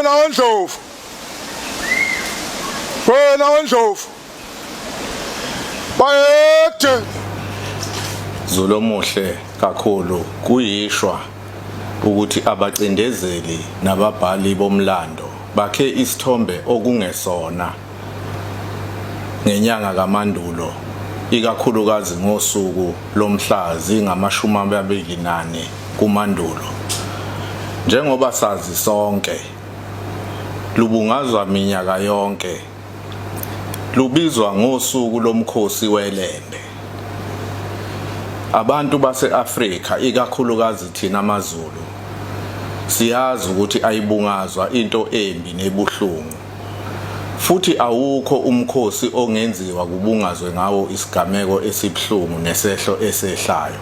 wena ondlovu wena ondlovu bayede Zulu omuhle kakhulu kuyishwa ukuthi abacindezeli nababhali bomlando bakhe isithombe okungesona. ngenyanga kaMandulo ikakhulukazi ngosuku lomhla zingamashumi amabili nane kuMandulo njengoba sazi sonke lubungazwa minyaka yonke lubizwa ngosuku lomkhosi welembe abantu base-Afrika ikakhulukazi thina amaZulu siyazi ukuthi ayibungazwa into embi nebuhlungu Futhi awukho umkhosi ongenziwa kubungazwe ngawo isigameko esibuhlungu nesehlo esehlayo.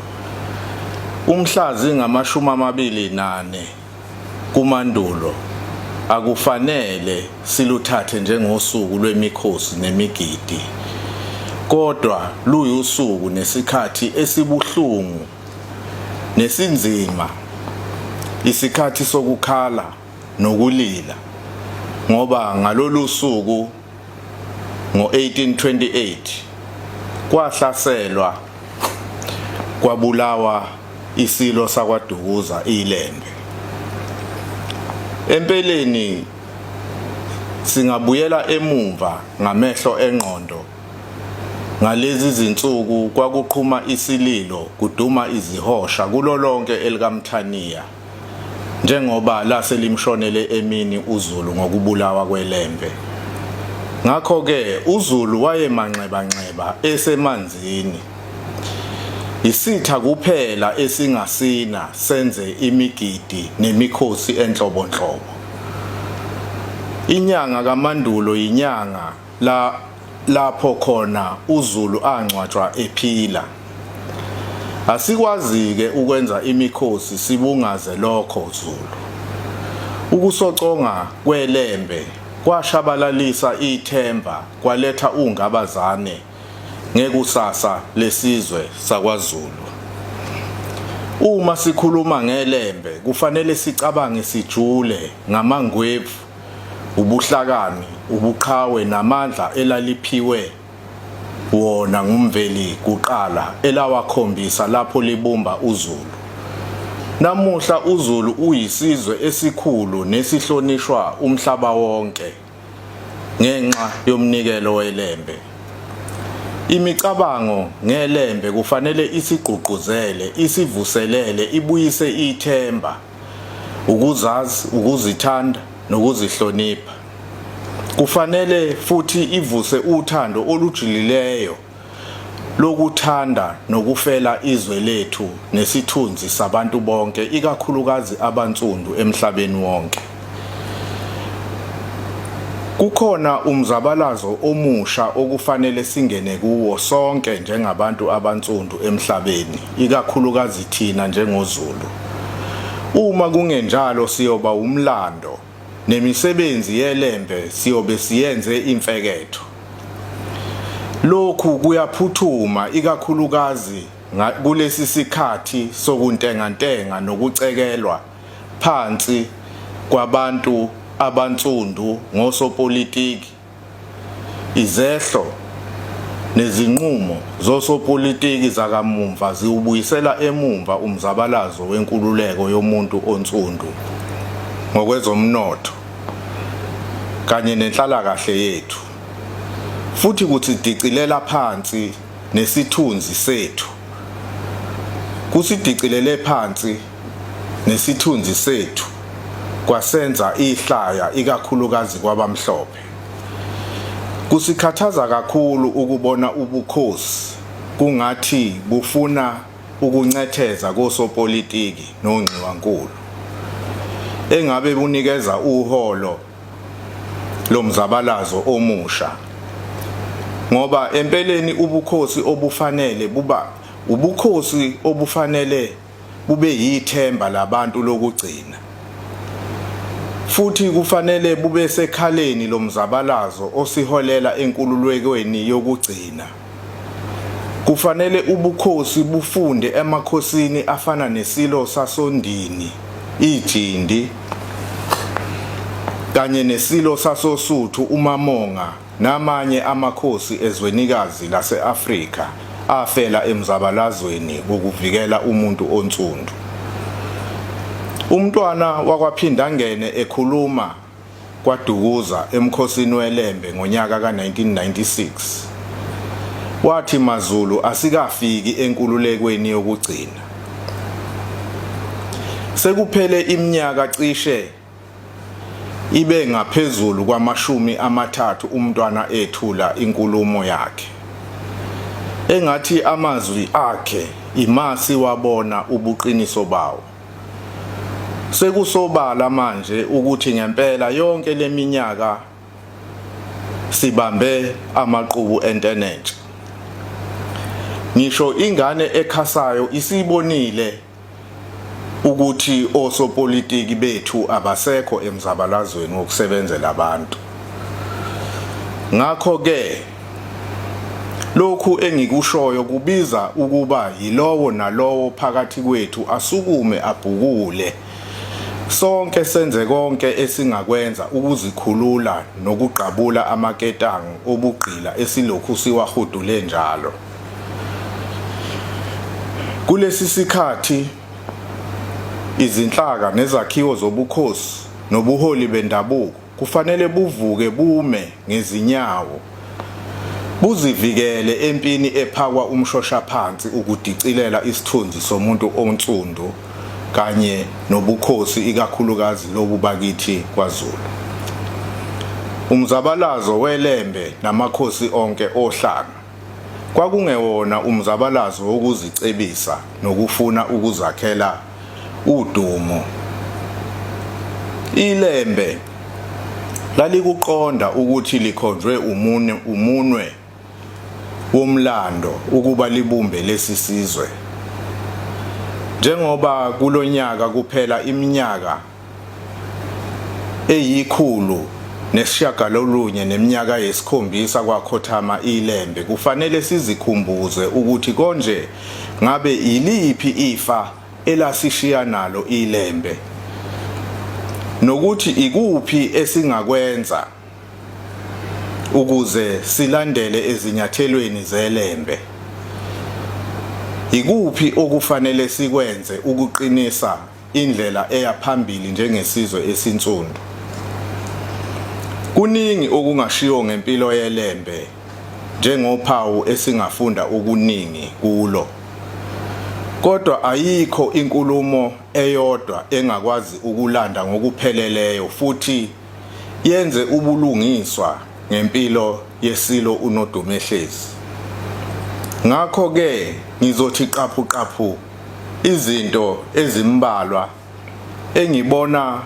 Umhla zingamashumi amabili nane kuMandulo akufanele siluthathe njengosuku lwemikhosi nemigidi, kodwa luyusuku nesikhathi esibuhlungu nesinzima, isikhathi sokukhala, nokulila ngoba ngalolu suku ngo-1828 kwahlaselwa kwabulawa isilo sakwaDukuza iLembe. Empeleni singabuyela emumva ngamehlo engqondo ngalezi zinsuku kwakuqhuma isililo kuduma izihosha kulolonke elikaMthaniya. njengoba lase limshonele emini uZulu ngokubulawa kwelembe. Ngakho-ke uZulu wayemanxebanxeba esemanzini. Isitha kuphela esingasina senze imigidi nemikhosi enhlobonhlobo. Inyanga kaMandulo yinyanga la lapho khona uZulu angcwatshwa ephila Asikwazi-ke ukwenza imikhosi sibungaze lokho Zulu. Ukusoconga kwelembe kwashabalalisa ithemba kwaletha ungabazane ngekusasa lesizwe sakwaZulu. Uma sikhuluma ngelembe kufanele sicabange sijule ngamangwevu ubuhlakani, ubuqhawe namandla elaliphiwe wona nguMveli kuqala elawakhombisa lapho libumba uZulu. Namuhla uZulu uyisizwe esikhulu nesihlonishwa umhlaba wonke ngenxa yomnikelo weLembe. Imicabango ngeLembe kufanele isigqugquzele, isivuselele, ibuyise ithemba. ukuzazi, ukuzithanda nokuzihlonipha. Kufanele futhi ivuse uthando olujulileyo lokuthanda nokufela izwe lethu nesithunzi sabantu bonke ikakhulukazi abansundu emhlabeni wonke. Kukhona umzabalazo omusha okufanele singene kuwo sonke njengabantu abansundu emhlabeni, ikakhulukazi thina njengoZulu. Uma kungenjalo siyoba umlando nemisebenzi yelembe siyobe siyenze imfeketho. Lokhu kuyaphuthuma ikakhulukazi kulesi sikhathi sokuntengantenga nokucekelwa phansi kwabantu abansundu ngosopolitiki, izehlo nezinqumo zosopolitiki zakamumva ziwubuyisela emumva umzabalazo wenkululeko yomuntu onsundu ngokwezomnotho kanye nenhlalakahle yethu, futhi kusidicilela phansi nesithunzi sethu kusidicilele phansi nesithunzi sethu kwasenza ihlaya ikakhulukazi kwabamhlophe kusikhathaza kakhulu ukubona ubukhosi kungathi bufuna ukuncetheza kosopolitiki nongxiwankulu engabe bunikeza uholo lo mzabalazo omusha ngoba empeleni ubukhosi obufanele buba ubukhosi obufanele bube yithemba labantu lokugcina futhi kufanele bube sekhaleni lomzabalazo osiholela enkululekweni yokugcina Kufanele ubukhosi bufunde emakhosini afana neSilo sasoNdini, iJindi, kanye neSilo sasoSuthu, uMamonga, namanye amakhosi ezwenikazi lase-Afrika afela emzabalazweni wokuvikela umuntu onsundu. UMntwana wakwaPhindangene ekhuluma KwaDukuza emkhosini weLembe ngonyaka ka-1996. Wathi MaZulu asikafiki enkululekweni yokugcina. Sekuphele iminyaka cishe ibe ngaphezulu kwamashumi amathathu uMntwana ethula inkulumo yakhe. Engathi amazwi akhe yima siwabona ubuqiniso bawo. Sekusobala manje ukuthi ngempela yonke leminyaka sibambe amaqubu entenentsha. Ngisho ingane ekhasayo isibonile ukuthi osopolitiki bethu abasekho emzabalazweni wokusebenzela abantu. Ngakho ke Lokhu engikushoyo kubiza ukuba yilowo nalowo phakathi kwethu asukume abhukule sonke senze konke esingakwenza ukuzikhulula nokugqabula amaketango obugqila esilokhu siwahudule njalo. Kulesi sikhathi izinhlaka nezakhiwo zobukhosi nobuholi bendabuko Kufanele buvuke bume ngezinyawo buzivikele empini ephakwa umshoshaphansi ukudicilela isithunzi somuntu onsundu kanye nobukhosi ikakhulukazi lobu bakithi kwaZulu. Umzabalazo weLembe namakhosi onke oHlanga kwakungewona umzabalazo wokuzicebisa nokufuna ukuzakhela udumo. Ilembe lalikuqonda ukuthi likhonjwe umune umunwe womlando ukuba libumbe lesi sizwe. Njengoba kulonyaka kuphela iminyaka eyikhulu nesishiyagalolunye neminyaka yesikhombisa kwakhothama iLembe, kufanele sizikhumbuze ukuthi konje ngabe yiliphi ifa elasishiya nalo iLembe nokuthi ikuphi esingakwenza ukuze silandele ezinyathelweni zeLembe. Ikuphi okufanele sikwenze ukuqinisa indlela eya phambili njengesizwe esinsundu. Kuningi okungashiwo ngempilo yeLembe njengophawu esingafunda okuningi kulo. Kodwa ayikho inkulumo eyodwa engakwazi ukulanda ngokupheleleyo futhi yenze ubulungiswa ngempilo yesilo uNodumehlezi. Ngakho-ke ngizothi qaphuqaphu izinto ezimbalwa engibona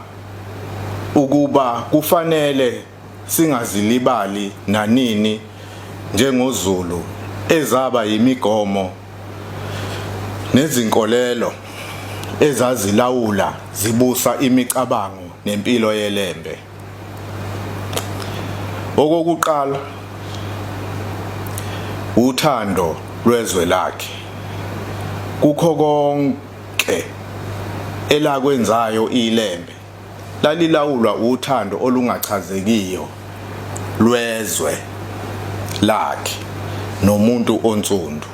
ukuba kufanele singazilibali nanini njengoZulu ezaba yimigomo nezinkolelo ezazilawula zibusa imicabango nempilo yeLembe. Okokuqala uthando lwezwe lakhe kukho konke elakwenzayo iLembe lalilawulwa uthando olungachazekiyo lwezwe lakhe nomuntu onsundu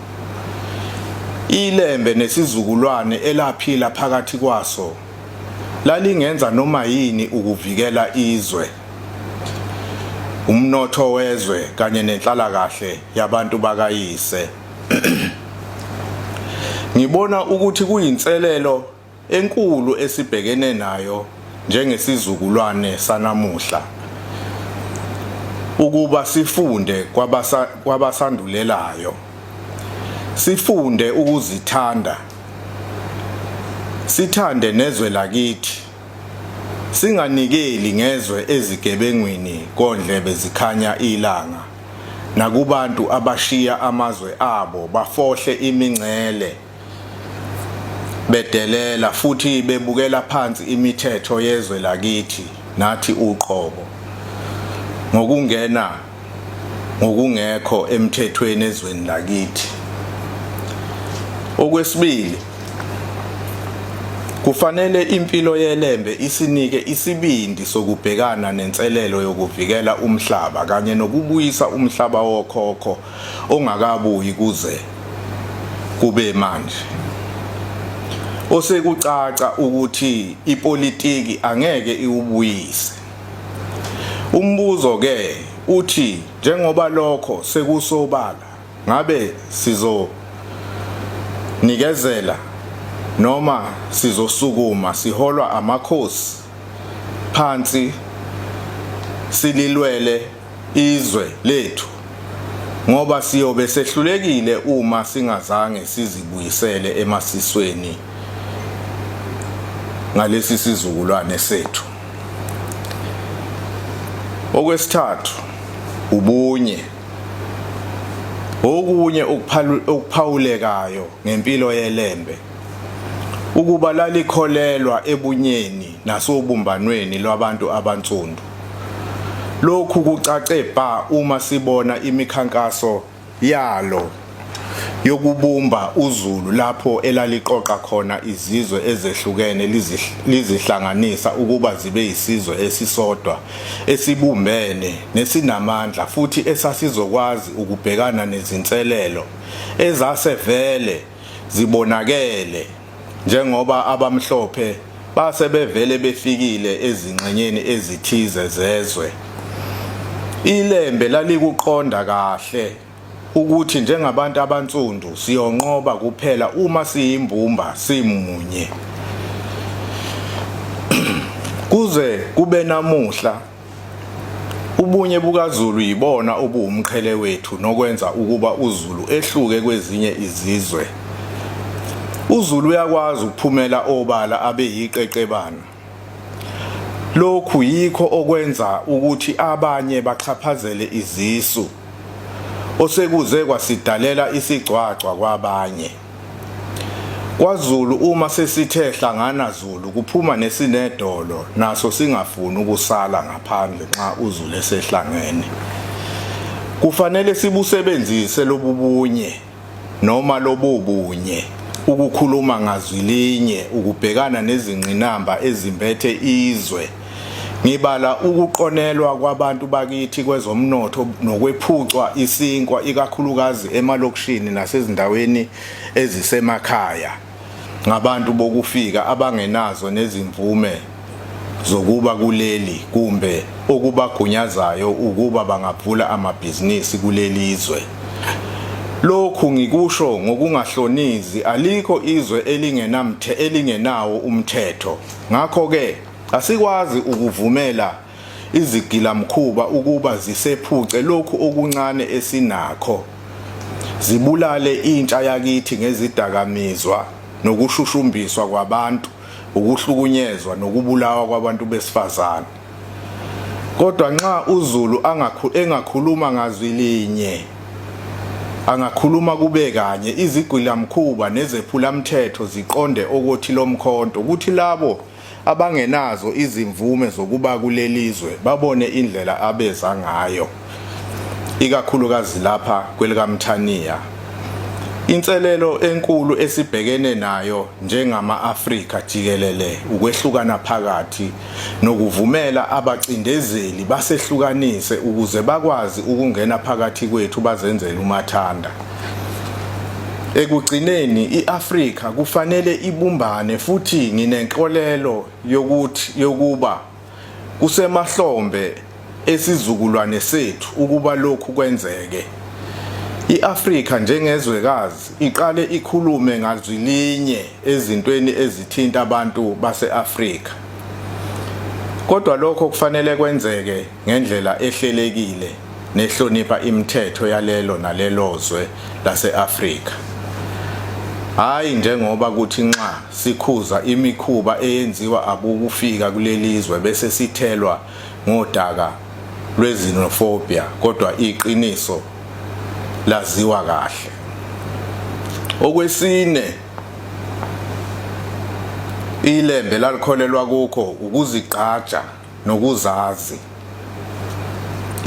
iLembe nesizukulwane elaphila phakathi kwaso lalingenza noma yini ukuvikela izwe, umnotho wezwe kanye nenhlalakahle yabantu bakayise. Ngibona ukuthi kuyinselelo enkulu esibhekene nayo njengesizukulwane sanamuhla ukuba sifunde kwabasa kwabasandulelayo sifunde ukuzithanda Sithande nezwe lakithi. Singanikeli ngezwe ezigebengwini kondlebe zikhanya ilanga nakubantu abashiya amazwe abo bafohle imingcele bedelela futhi bebukela phansi imithetho yezwe lakithi nathi uqobo ngokungena ngokungekho emthethweni ezweni lakithi. Okwesibili, kufanele impilo yeLembe isinike isibindi sokubhekana nenselelo yokuvikela umhlaba kanye nokubuyisa umhlaba wokhokho ongakabuyi kuze kube manje. Osekucaca ukuthi ipolitiki angeke iwubuyise. Umbuzo ke uthi njengoba lokho sekusobala ngabe sizo nikezela noma sizosukuma siholwa amakhosi phansi sililwele izwe lethu ngoba siyobe sehlulekile uma singazange sizibuyisele emasisweni ngalesi sizukulwane sethu okwesithathu ubunye okunye ukuphawulekayo ngempilo yelembe ukuba lalikholelwa ebunyeni nasobumbanweni lwabantu abansundu. Lokhu kucace bha uma sibona imikhankaso yalo yokubumba uZulu lapho elaliqoqa khona izizwe ezehlukene lizihlanganisa ukuba zibe isizwe esisodwa esibumbene nesinamandla futhi esasizokwazi ukubhekana nezinselelo ezase vele zibonakele njengoba abamhlophe base bevele befikile ezingxenyeni ezithize zezwe. Ilembe lalikuqonda kahle ukuthi njengabantu abansundu siyonqoba kuphela uma siyimbumba simunye. Kuze kube namuhla Ubunye bukaZulu yibona obuwumqhele wethu nokwenza ukuba uZulu ehluke kwezinye izizwe. UZulu uyakwazi ukuphumela obala abe yiqeqebana. Lokhu yikho okwenza ukuthi abanye baxhaphazele izisu osekuze kwasidalela isigcwagcwa kwabanye. KwaZulu uma sesithe hlangana Zulu kuphuma nesinedolo naso singafuni ukusala ngaphandle nxa uZulu esehlangene. Kufanele sibusebenzise lobubunye noma lobobunye ukukhuluma ngazwi linye ukubhekana nezingqinamba ezimbethe izwe. Ngibala ukuqonelwa kwabantu bakithi kwezomnotho nokwephucwa isinkwa ikakhulukazi emalokishini nasezindaweni ezisemakhaya ngabantu bokufika abangenazo nezimvume zokuba kuleli kumbe okubagunyazayo ukuba bangavula amabhizinisi kuleli zwe. Lokhu ngikusho ngokungahlonizi alikho izwe elingenamthe elingenawo umthetho. Ngakho-ke Asikwazi ukuvumela izigilamkhuba ukuba zisephuce lokhu okuncane esinakho, zibulale intsha yakithi ngezidakamizwa nokushushumbiswa kwabantu, ukuhlukunyezwa nokubulawa kwabantu besifazane. Kodwa nxa uZulu engakhuluma ngazwi linye, angakhuluma kube kanye, izigilamkhuba nezephulamthetho ziqonde okothi lomkhonto, kuthi labo abangenazo izimvume zokuba kuleli zwe babone indlela abeza ngayo ikakhulukazi lapha kwelikaMthaniya. Inselelo enkulu esibhekene nayo njengama-Afrika jikelele ukwehlukana phakathi nokuvumela abacindezeli basehlukanise ukuze bakwazi ukungena phakathi kwethu bazenzele umathanda. Ekugcineni iAfrika kufanele ibumbane futhi nginenkolelo yokuthi yokuba kusemahlombe esizukulwane sethu ukuba lokhu kwenzeke. I-Afrika njengezwekazi iqale ikhulume ngazwi linye ezintweni ezithinta abantu base-Afrika. Kodwa lokho kufanele kwenzeke ngendlela ehlelekile nehlonipha imithetho yalelo nalelozwe lase-Afrika. Hhayi njengoba kuthi nxa sikhuza imikhuba eyenziwa abokufika kulelizwe bese sithelwa ngodaka lwezinofobia kodwa iqiniso laziwa kahle. Okwesine ilembe lalikholelwa kukho ukuzigqaja nokuzazi.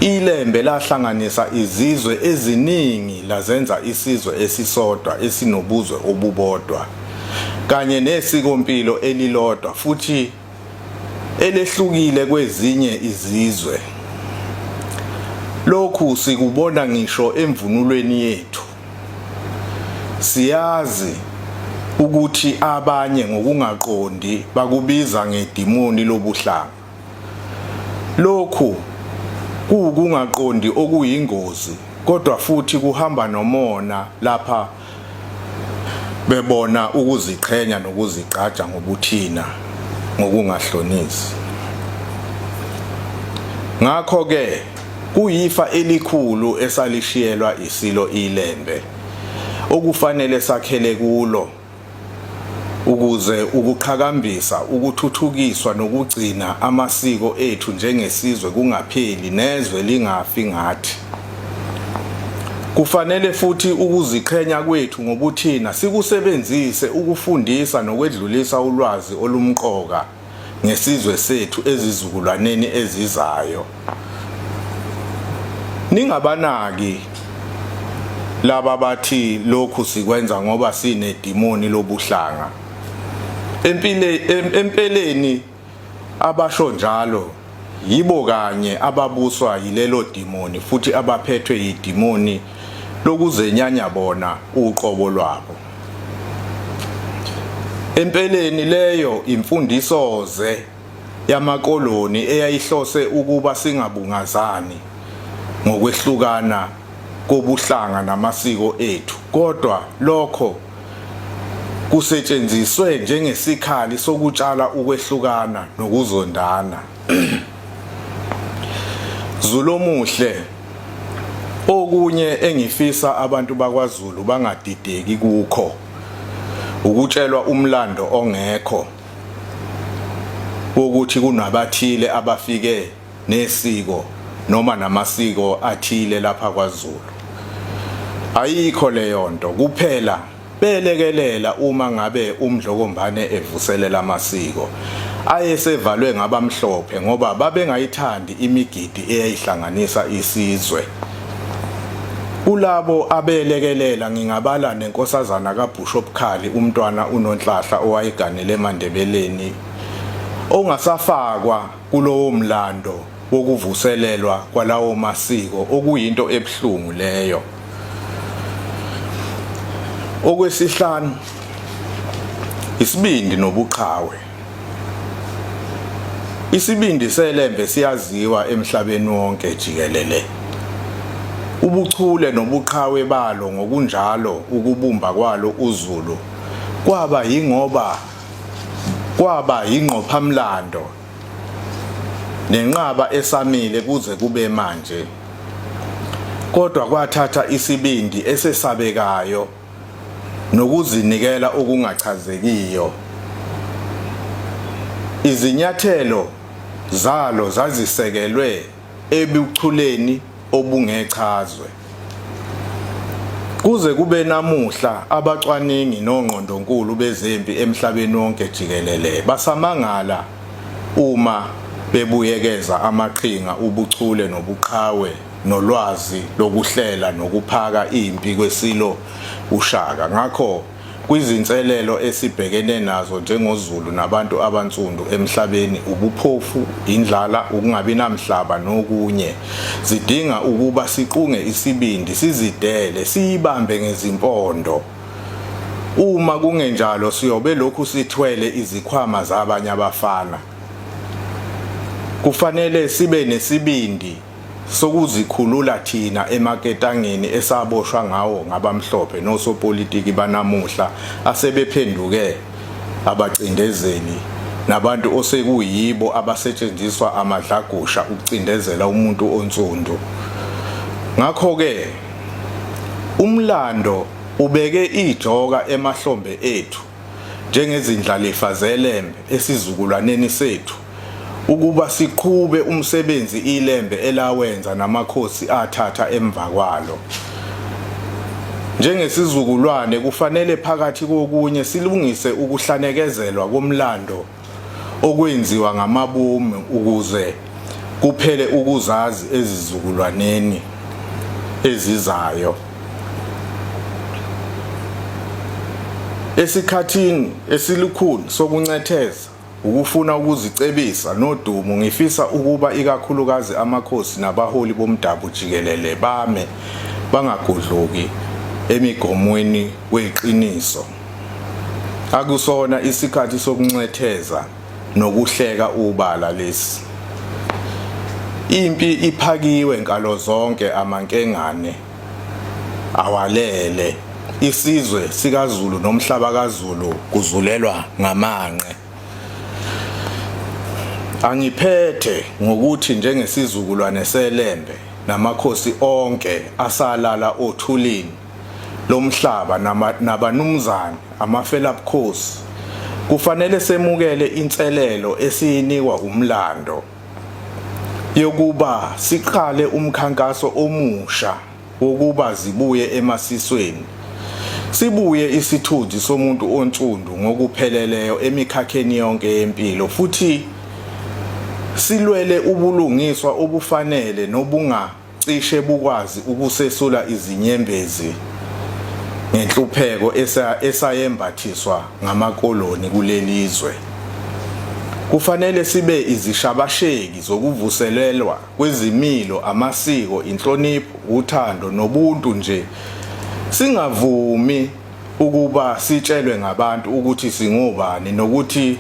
Ilembe lahlanganisa izizwe eziningi lazenza isizwe esisodwa esinobuzwe obubodwa kanye nesikompilo elilodwa futhi elehlukile kwezinye izizwe. Lokhu sikubona ngisho emvunulweni yethu. Siyazi ukuthi abanye ngokungaqondi bakubiza ngedimoni lobuhlanga. Lokhu kuwukungaqondi okuyingozi kodwa futhi kuhamba nomona lapha bebona ukuziqhenya nokuzigqaja ngobuthina ngokungahlonisi. Ngakho-ke Kuyifa elikhulu esalishiyelwa iSilo iLembe okufanele sakhele kulo ukuze ukuqhakambisa, ukuthuthukiswa nokugcina amasiko ethu njengesizwe kungapheli nezwe lingafi ngathi. Kufanele futhi ukuziqhenya kwethu ngobuthina sikusebenzise ukufundisa nokwedlulisa ulwazi olumqoka ngesizwe sethu ezizukulwaneni ezizayo ningabanaki laba bathi lokhu sikwenza ngoba sinedimoni lobuhlanga empileni empeleni abasho njalo Yibo kanye ababuswa yilelo dimoni futhi abaphethwe yidimoni lokuzenyanya bona uqobo lwabo. Empeleni leyo imfundiso-ze yamakoloni eyayihlose ukuba singabungazani ngokwehlukana kobuhlanga namasiko ethu kodwa lokho kusetshenziswe njengesikhali sokutshala ukwehlukana nokuzondana. Zulomuhle Okunye engifisa abantu bakwaZulu bangadideki kukho ukutshelwa umlando ongekho wokuthi kunabathile abafike nesiko noma namasiko athile lapha kwaZulu ayikho leyo nto kuphela belekelela uma ngabe umdlokombane evuselela amasiko ayesevalwe ngabamhlophe ngoba babengayithandi imigidi eyayihlanganisa isizwe kulabo abelekelela ngingabala nenkosazana kabhusho obukhali umntwana unonhlahla owayeganele emandebeleni ongasafakwa kulowo mlando wokuvuselelwa kwalawo masiko okuyinto ebuhlungu leyo okwesihlanu isibindi nobuqhawe isibindi selembe siyaziwa emhlabeni wonke jikelele ubuchule nobuqhawe balo ngokunjalo ukubumba kwalo uZulu kwaba yingoba kwaba yingqophamlando nenqaba esamile kuze kube manje kodwa kwathatha isibindi esesabekayo nokuzinikela okungachazekiyo izinyathelo zalo zazisekelwe ebuchuleni obungechazwe. Kuze kube namuhla abacwaningi nongqondonkulu bezempi emhlabeni wonke jikelele basamangala uma bebuyekeza amaqhinga ubuchule nobuqhawe nolwazi lokuhlela nokuphaka impi kweSilo uShaka. Ngakho Kwizinselelo esibhekene nazo njengoZulu nabantu abansundu emhlabeni, ubuphofu, indlala, ukungabi namhlaba nokunye. Zidinga ukuba siqunge isibindi, sizidele, siyibambe ngezimpondo. Uma kungenjalo siyobe lokhu sithwele izikhwama zabanye abafana. Kufanele sibe nesibindi. sokuzikhulula thina emaketangeni esaboshwa ngawo ngabamhlophe nosopolitiki banamuhla asebephenduke abacindezeli nabantu osekuyibo abasetshenziswa amadlagusha ukucindezela umuntu onsundu ngakho-ke umlando ubeke ijoka emahlombe ethu njengezindlalifa zeLembe esizukulwaneni sethu ukuba siqhube umsebenzi iLembe elawenza namakhosi athatha emva kwalo. Njengesizukulwane kufanele phakathi kokunye silungise ukuhlanekezelwa komlando okwenziwa ngamabomu ukuze kuphele ukuzazi ezizukulwaneni ezizayo. Esikhathini esilukhulu sokuncetheza ukufuna ukuzicebisa nodumo ngifisa ukuba ikakhulukazi amakhosi nabaholi bomdabu jikelele bame bangagudluki emigomweni weqiniso. Akusona isikhathi sokuncetheza nokuhleka ubala lesi. Impi iphakiwe nkalo zonke amankengane awalele isizwe sikaZulu nomhlaba kaZulu kuzulelwa ngamanqe. Angiphethe ngokuthi njengesizukulwane seLembe namakhosi onke asalala othulini lomhlaba nabanumzane amafela bukhosi kufanele semukele inselelo esiyinikwa umlando yokuba siqale umkhankaso omusha wokuba zibuye emasisweni sibuye isithunzi somuntu onsundu ngokupheleleyo emikhakheni yonke yempilo futhi silwele ubulungiswa obufanele nobunga cishe bukwazi ukusesula izinyembezi ngenhlupheko esayembathiswa ngamakoloni kuleli zwe. Kufanele sibe izishabasheki zokuvuselelwa kwezimilo, amasiko, inhlonipho, uthando nobuntu nje, singavumi ukuba sitshelwe ngabantu ukuthi singobani nokuthi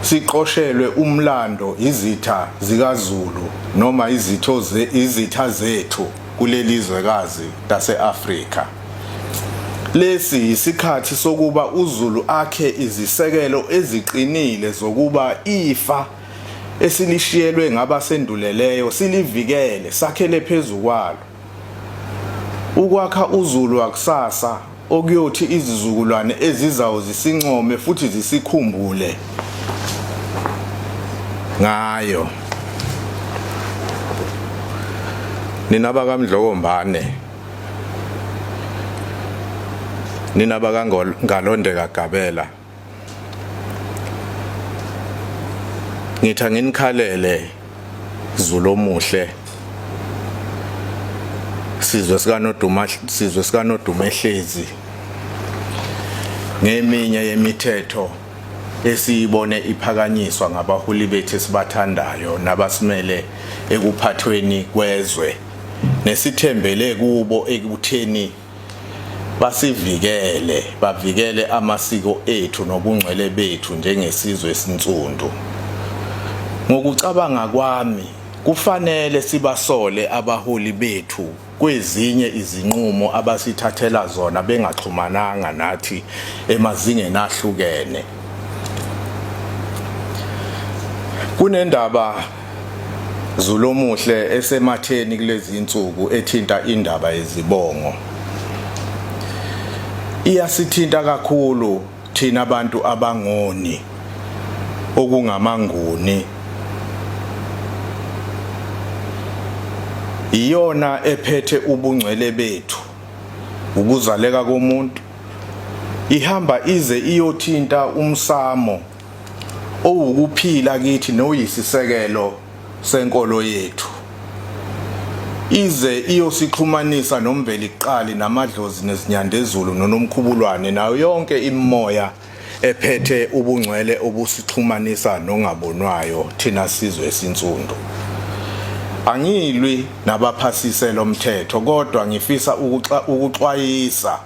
siqoshelwe umlando izitha zikaZulu noma izitho ze, izitha zethu kuleli zwekazi lase-Afrika. Lesi yisikhathi sokuba uZulu akhe izisekelo eziqinile zokuba ifa esilishiyelwe ngabasenduleleyo silivikele sakhele phezu kwalo. Ukwakha uZulu wakusasa okuyothi izizukulwane ezizayo zisincome futhi zisikhumbule ngayo nina bakamdlokombane nina bakangalondeka gabela ngithi anginikhalele Zulu omuhle sizwe sikanoduma sizwe sikanoduma ehlezi ngeminye yemithetho esiyibone iphakanyiswa ngabaholi bethu esibathandayo nabasimele ekuphathweni kwezwe nesithembele kubo ekutheni basivikele bavikele amasiko ethu nobungcwele bethu njengesizwe esinsundu ngokucabanga kwami kufanele sibasole abaholi bethu kwezinye izinqumo abasithathela zona bengaxhumananga nathi emazingeni ahlukene kunendaba Zulomuhle esematheni kulezi insuku ethinta indaba yezibongo iyasithinta kakhulu thina abantu abangoni okungamanguni iyona ephethe ubungcwele bethu ukuzaleka komuntu ihamba ize iyothinta umsamo owukuphila kithi noyisisekelo senkolo yethu ize iyosixhumanisa nombeliqali namadlozi nezinyandezulu nonomkhubulwane nayo yonke imimoya ephethe ubungcwele obusixhumanisa nongabonwayo thina sizwe esinsundu angilwi nabaphasise lomthetho kodwa ngifisa ukuxwayisa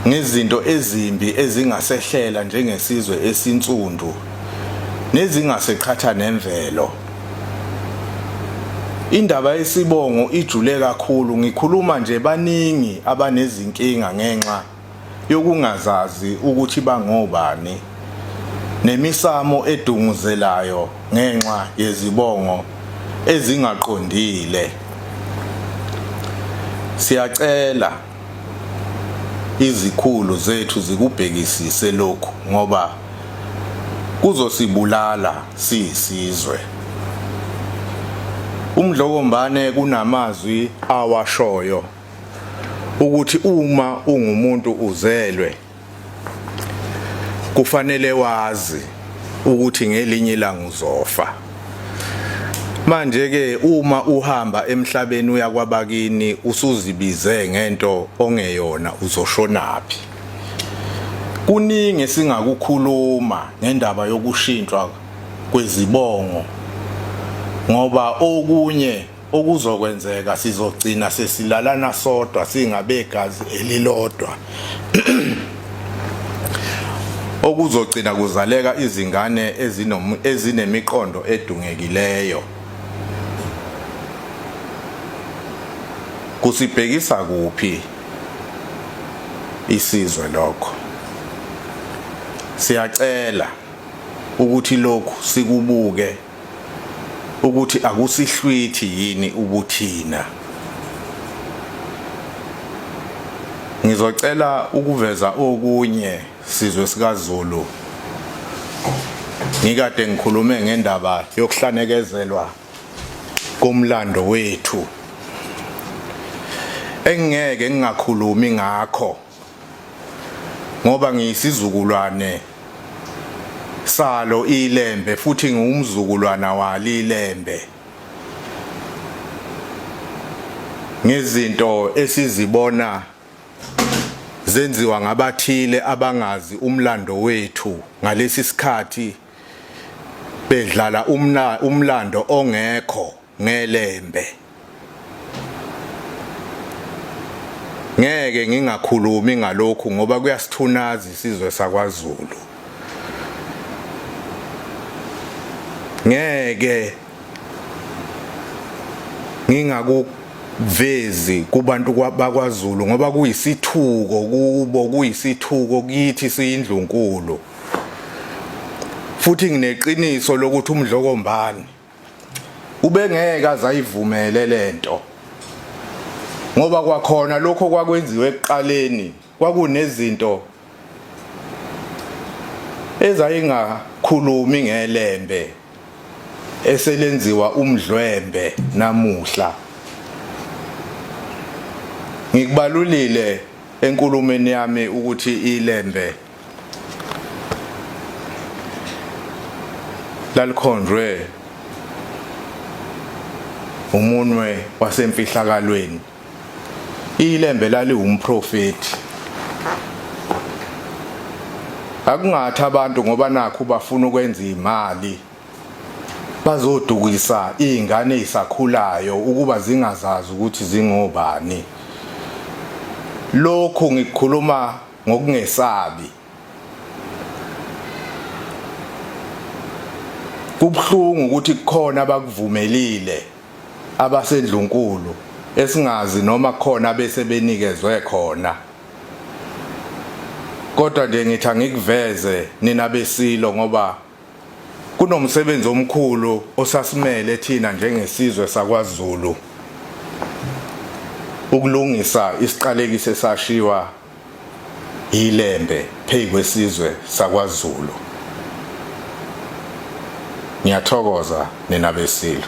ngezinto ezimbi ezingasehlela njengesizwe esinsundu nezingaseqhatha nemvelo. Indaba yesibongo ijule kakhulu ngikhuluma nje baningi abanezinkinga ngenxa yokungazazi ukuthi bangobani nemisamo edunguzelayo ngenxa yezibongo ezingaqondile. Siyacela izikhulu zethu zikubhekisise lokhu ngoba kuzosibulala siyisizwe. UMdlokombane kunamazwi awashoyo ukuthi uma ungumuntu uzelwe kufanele wazi ukuthi ngelinye ilanga uzofa manje ke uma uhamba emhlabeni uya kwabakini usuzibize ngento ongeyona uzoshonaphi kuningi singakukhuluma ngendaba yokushintshwa kwezibongo ngoba okunye Okuzokwenzeka sizogcina sesilalana sodwa singabegazi elilodwa. Okuzogcina kuzaleka izingane ezinemiqondo edungekileyo. Kusibhekisa kuphi isizwe lokho? Siyacela ukuthi lokhu sikubuke ukuthi akusihlwithi yini ubuthina ngizocela ukuveza okunye sizwe sikaZulu ngikade ngikhulume ngendaba yokuhlanekezelwa komlando wethu engeke ngingakhulumi ngakho ngoba ngiyisizukulwane salo ilembe futhi ngiwumzukulwana walilembe ngezinto esizibona zenziwa ngabathile abangazi umlando wethu ngalesi sikhathi bedlala umlando ongekho ngelembe. Ngeke ngingakhulumi ngalokhu ngoba kuyasithunaza isizwe sakwaZulu. Ngeke ngingakuvezi kubantu bakwaZulu ngoba kuyisithuko kubo kuyisithuko kithi siyindlunkulu. Futhi ngineqiniso lokuthi umdlokombani ubengeke azayivumele lento ngoba kwakhona lokho kwakwenziwe ekuqaleni kwakunezinto ezayingakhulumi ngelembe eselenziwa umdlwembe namuhla ngikubalulile enkulumeni yami ukuthi ilembe lalikhonjwe umunwe wasemfihlakalweni ilembe laliwumprofeti akungathi abantu ngoba nakho bafuna ukwenza imali bazodukisa izingane ezisakhulayo ukuba zingazazi ukuthi zingobani lokhu ngikhuluma ngokungesabi. Kubuhlungu ukuthi kukhona abakuvumelile abasendlunkulu esingazi noma khona bese benikezwe khona kodwa nje ngithi angikuveze nina besilo ngoba kunomsebenzi omkhulu osasimele thina njengesizwe sakwaZulu ukulungisa isiqalekise sashiwa yilembe phezu kwesizwe sakwaZulu. Ngiyathokoza nina beSilo.